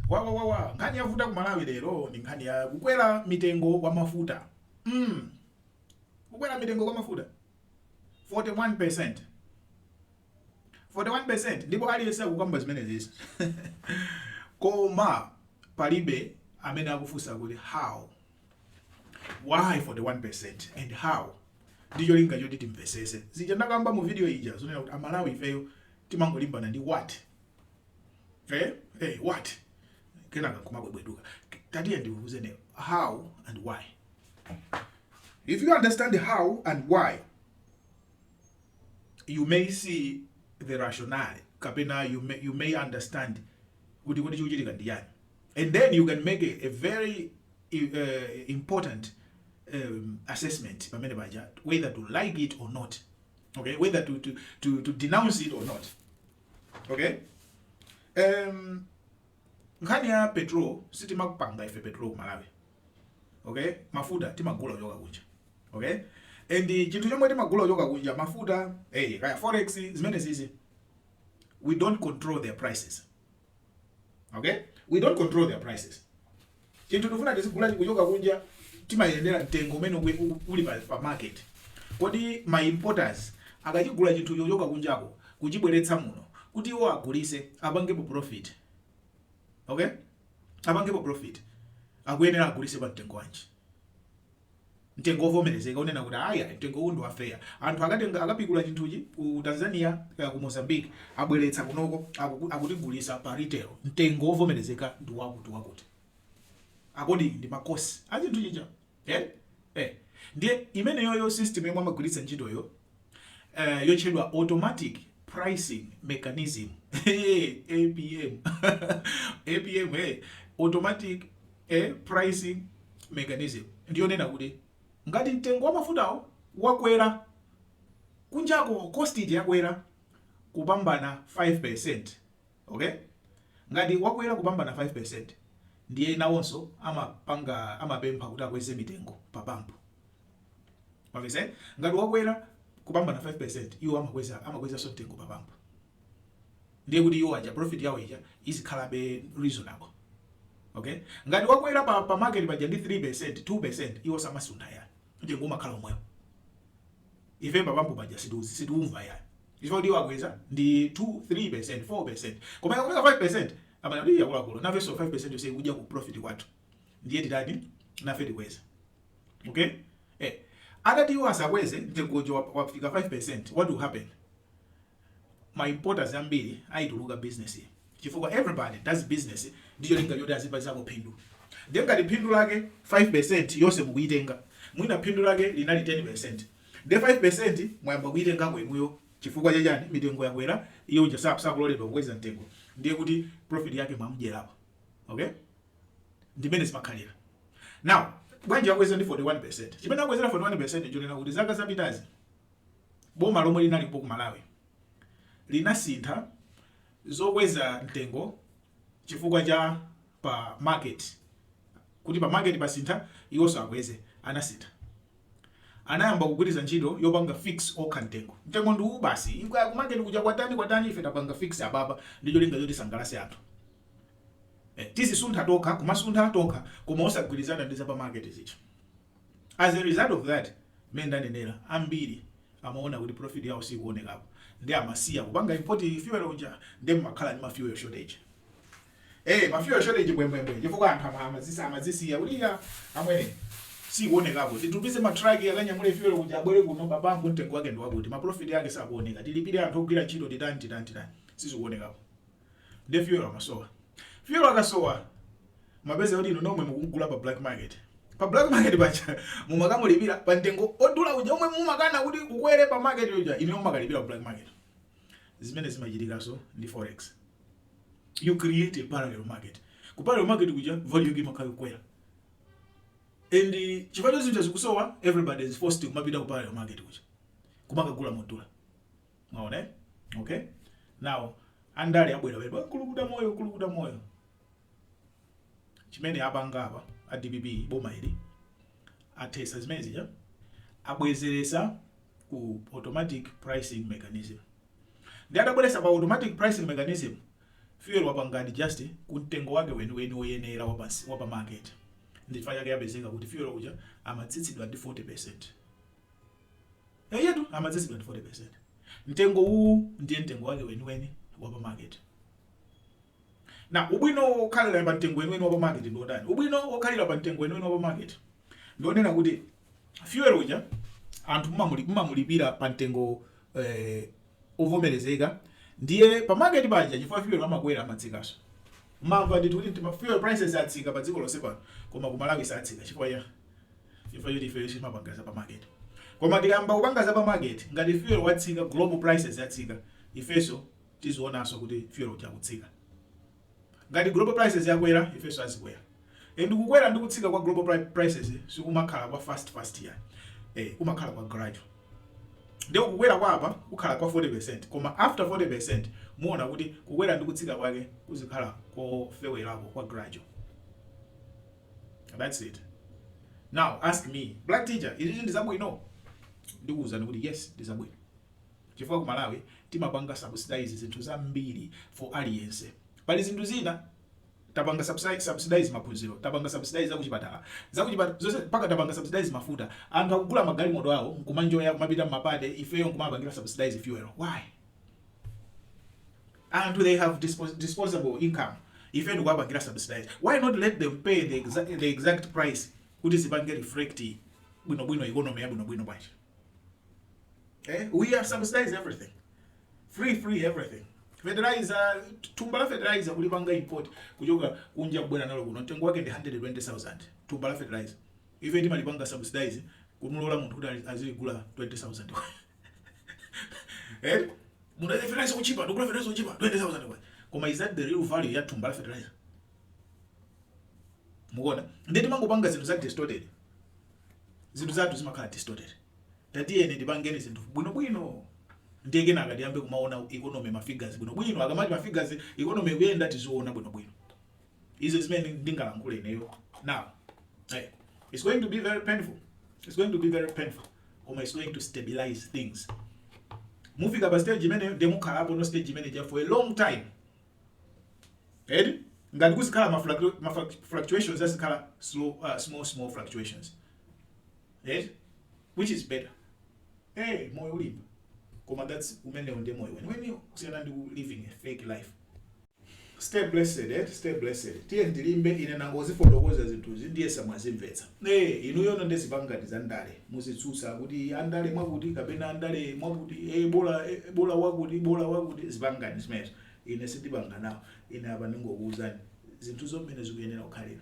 Wawawawa nkhani yavuta ku Malawi lero ndi nkhani ya kukwera mitengo kwa mafuta mm. kukwera mitengo kwa mafuta 41% 41% ndipo aliyense akukamba zimenezi koma palibe amene akufunsa kuti how why 41% and how ndi cholinga choti timvetsetse zija ndakamba mu video ija zonena kuti amalawi ifeyo timangolimbana ndi what eh eh what kenaka kumabwebweduka tatiye ndiuzene how and why if you understand how and why you may see the rationale kapena you may, you may understand kuti kuti chikuchitika ndi yani and then you can make a, a very uh, important um, assessment pamene paja whether to like it or not okay whether to, to, to, to denounce it or not okay um, nkhani ya petrol sitimaupanga ife petrol ku malawi okay mafuta timagula kuchoka kunja okay and chinthu chomwe timagula kuchoka kunja mafuta hey, kaya forex zimene zizi we don't control their prices okay we don't control their prices Chinthu tikufuna tizigula chikuchoka kunja timayendera mtengo umene ukue- u- uli pa, pa market. Kodi ma importers akachigula chinthu chochoka kunjako kuchibweretsa muno kuti iwo agulise apangepo profit. Okay? Apangepo profit. Akuyenera agulise pa mtengo wanji? mtengo ovomerezeka onena kuti ayi ayi mtengo uwu ndi wa fair anthu akatenga akapikula chinthuchi ku Tanzania kaya ku Mozambique abweretsa kunoko akuku- akutigulisa pa retail mtengo ovomerezeka ndi wakuti wakuti according ndi ma cost a chinthu chija eh? eh. ndiye imeneyoyo system yomwe amagwiritsa ntchitoyo eh, yotchedwa automatic pricing mechanism apm apm eh, automatic eh, pricing mechanism ndiyonena kuti ngati mtengo wa mafutawo wakwera kunjako cost ija yakwera kupambana 5% okay ngati wakwera kupambana 5% ndiye nawonso amapanga amapempha kuti akweze mitengo pa pampu mwamvetsa eh? ngati wakwera kupambana 5% iwo amakweza amakwezanso mtengo pa pampu ndiye kuti iwo aja profit yawo ija izikhalabe reasonable okay ngati wakwera pa, pa market paja ndi 3% 2% iwo samasuntha yani mtengo umakhala omwewo ife pa pampu paja situzi situumva yani chifukwa kuti iwo yakwera ndi 2 3% 4% koma ikakwera 5% amanati yakulakulo nafenso 5% yonse ikudya ku profit kwathu ndiye titani nafe tikweza okay eh atati iwo asakweze mtengo uja wap- wafika 5% what will happen ma importers ambiri azituluka business chifukwa everybody does business ndi cholinga choti azipazako phindu ndiye ngati phindu lake 5% yonse mukuyitenga mwina phindu lake linali 10% ndiye 5% mwayamba kuyitengako inuyo chifukwa chachani mitengo yakwera iye uja sa- sakuloledwa kukweza mtengo ndiye kuti profit yake mwamudyerapo okay ndi mmene zimakhalira now bwanji akweze ndi 41% chimene akwezera 41% chonena kuti zaka zapitazi boma lomwe linalipo ku malawi linasintha zokweza mtengo chifukwa cha pa market kuti pa market pasintha iwonso akweze anasintha anayamba kugwiritsa ntchito yopanga fix okha mtengo mtengo ndi uwu basi Ikwa- ku market kuja kwatani kwatani ife tapanga fix apapa ndicho linga choti asangalase anthu tizisuntha tokha kumasuntha tokha koma osagwilizana ndi za pa market zija as a result of that mmene ndanenera ambiri amaona kuti profit yawo siikuonekapo nde amasiya kupanga import fuel uja nde mmakhala ndi ma fuel shortage eh ma fuel shortage bwembwembwe chifukwa anthu ama- amazisa amazisiya kuti iya amwene sikuonekapo titumize ma truck akanyamule fuel uja abwere kuno pamapeto mtengo wake ndi wakuti ma profit yake sakuoneka tilipire anthu ogwira ntchito titani titani titani sizikuonekapo ndiye fuel amasowa fuel akasowa mapeza kuti inu nomwe mukugula pa black market pa black market paja mumakamulipira pa mtengo odula uja omwe mumakana kuti ukwere pa market uja inu mumakalipira ku black market zimene zimachitikanso ndi forex you create a parallel market ku parallel market kuja value yake imakhala kukwera and chifukwa choti zinthu zikusowa everybody is forced kumapita ku parallel market kuja kumakagula modula mwaona eh? okay now andale abwera kulukuta moyo kulukuta moyo chimene apanga apa a dpp boma ili athesa zimene zija abwezeresa ku automatic pricing mechanism nde atabweresa pa automatic pricing mechanism fuel wapanga adjust ku mtengo wake weniweni woyenera wa pansi- wa pa market ndi chifukwa chake yapezeka kuti fuel uja amatsitsidwa ndi 40 percent Eyetu amatsitsidwa ndi 40% Mtengo uwu ndiye mtengo wake weniweni wa pa market. Now, ubwino wokhalira pa mtengo weniweni wa pa market ndi wotani? Ubwino wokhalira pa mtengo weniweni wa pa market ndi wonena kuti fuel uja anthu mumamulipira pa mtengo eh, ovomerezeka ndiye pa market paja chifukwa fuel amakwera amatsikanso mamva ndithu kuti fuel prices atsika pa dziko lonse pano koma ku Malawi satsika chifukwa ya chifukwa choti ifeyo sitimapanga za pamaketi koma tikayamba kupanga za pamaketi ngati fuel watsika global prices yatsika ifeso tizionanso kuti fuel uja akutsika ngati global prices yakwera ifeso azikwera and kukwera ndi kutsika kwa global pri- prices sikumakhala kwa fast fast ya eh, kumakhala kwa gradual nde kukwera kwa apa kukhala kwa 40% koma after 40% muona kuti kukwera ndi kutsika kwake kuzikhala kofewerako kwa gradual that's it now ask me black teacher izizi ndi zabwino ndikuwuzani kuti yes ndi zabwino chifukwa ku malawi timapanga subsidize zinthu zambiri for aliyense pali zinthu zina tapanga subsidize maphunziro tapanga subsidize zakuchipatala zonse mpaka tapanga subsidize mafuta anthu akugula magalimoto awo nkumaenjoya kumapita mmapate ifeyo nkumapangira subsidize fuel why anthu they have disposable income ife nkuwapangira subsidize why not let them pay the exact price kuti zipange reflect bwinobwino economy ya bwinobwino bwanji eh? we are subsidize everything free free everything fertilizer thumba la fertilizer kulipanga import kuchoka kunja kubwera nalo kuno mtengo wake ndi 120000 thumba la fertilizer ife timalipanga subsidize kumulola munthu kuti azigula 20000 eh mufuna fertilizer kuchipa ndigula fertilizer kuchipa 20000 kwa koma is that the real value ya thumba la fertilizer mukuona ndiye timangopanga zinthu za distorted zinthu zathu zimakhala distorted tatiyeni tipangeni zinthu bwinobwino ndiye kenaka tiyambe kumaona economy mafigures bwinobwino akamati mafigures economy ikuyenda tiziona bwinobwino izi ndi zimene ndingalankhule ineyo now hey, it's going to be very painful it's going to be very painful koma it's going to stabilize things mufika pa stage imene ndiye mukhalapo no stage imene ja for a long time eti ngati kuzikhala ma fluctu- ma fluc- fluctuations azikhala slow, uh, small small fluctuations eti which is better hey moyo ulimba koma that's umenewo ndiye moyo weniweni kusiyana ndi ku living a fake life Stay blessed eti stay blessed tiyeni tilimbe ine ndangozifotokoza zinthuzi ndiyesa mwazimvetsa ee inuyo nde zipangani za ndale muzitsutsa kuti andale mwakuti kapena andale mwakuti ee bola eh, bola wakuti bola wakuti zipangani zimenezo ine sindipanga nawo ine apa ndingokuwuzani zinthu mmene zikuyenera kukhalira